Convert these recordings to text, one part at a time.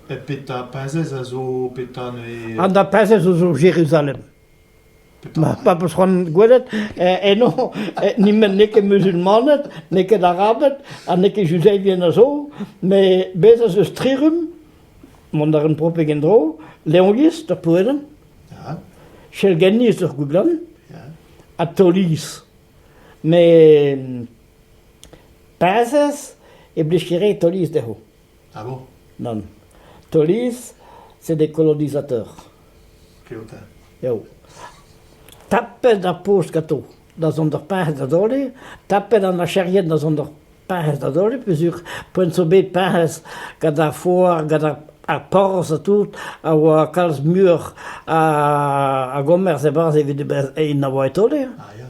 Petra perzhez a zo petra neuze An da perzhez zo Jeruzalem. Ma pap eus c'hoant gwelet eh, eno eh, ni met n'eo ket muzulmaned, n'eo ket arabed ha n'eo ket juzeivien a zo, met bez ez eus trirum, mont a ran propek en-dro, leongiz ur poedenn, ja. chelgenniz ur gouglan, ja. ha toliz. Met Perzhez e blij ket re Toliz dezho. Ah bon ? Nann. Toliz, c'est des colonisateurs. Keotin. Eo. Tapet ar poz ganto da zont ur perzh da dole, tapet an acherien da zont ur perzh da dole, peuzur poent zo bet perzh gant ar foar, gant ar, ar porzh ha tout, a oa kalz muioc'h a, a gomerz e-barzh evit e en a oa e tole. Ah ya.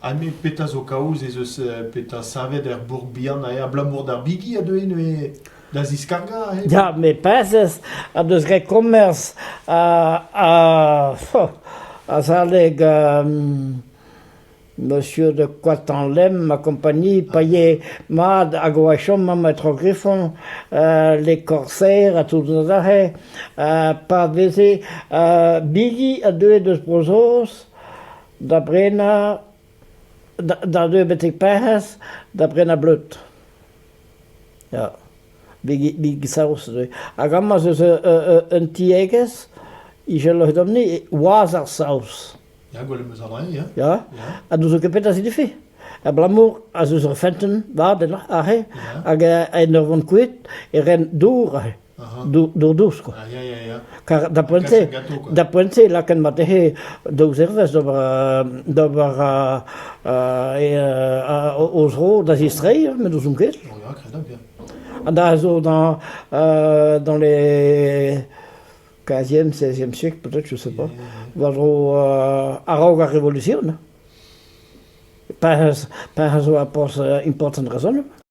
Anne, petra zo kaoz ez eus petra savet er bourc'h-bihan abalamour d'ar bigi a deue neuze da ziskargañ aze ? Ya, met perzh en deus graet komañs azalek monsieur de Coitenlem ma kompagnie paye mat hag o chom mont tro Grifon les Corsaires ha tout aze pa veze bigi a deue deus Bro-Saoz da brenañ, da deuet betek Perc'hez, da brenañ bleud, ya, bigi saoz neuze. Hag amañ ez eus un tiegezh, Ijel Loedomp-ni, wazh ar saoz. Ya, gwelet 'm eus bremañ, ya. Ya, ha n'ouzon ket petra signifi. Abalamour ez eus ur fentenn vat ennañ aze, hag en ur vont kuit e ren dour aze. Dourdous, quoi. Ah, ya, ya, ya. Car da poent se, da poent se, laken mat ehe daou zervez d'ober, d'ober uh, uh, o zro da zistrei, met ouzon ket. Ya, kredañ bien. Ha da zo dans, uh, dans les 15e, 16e siècle, peut-être, je sais pas, war dro uh, araok ar revoluzioun. Pa, pa zo a pos important raison.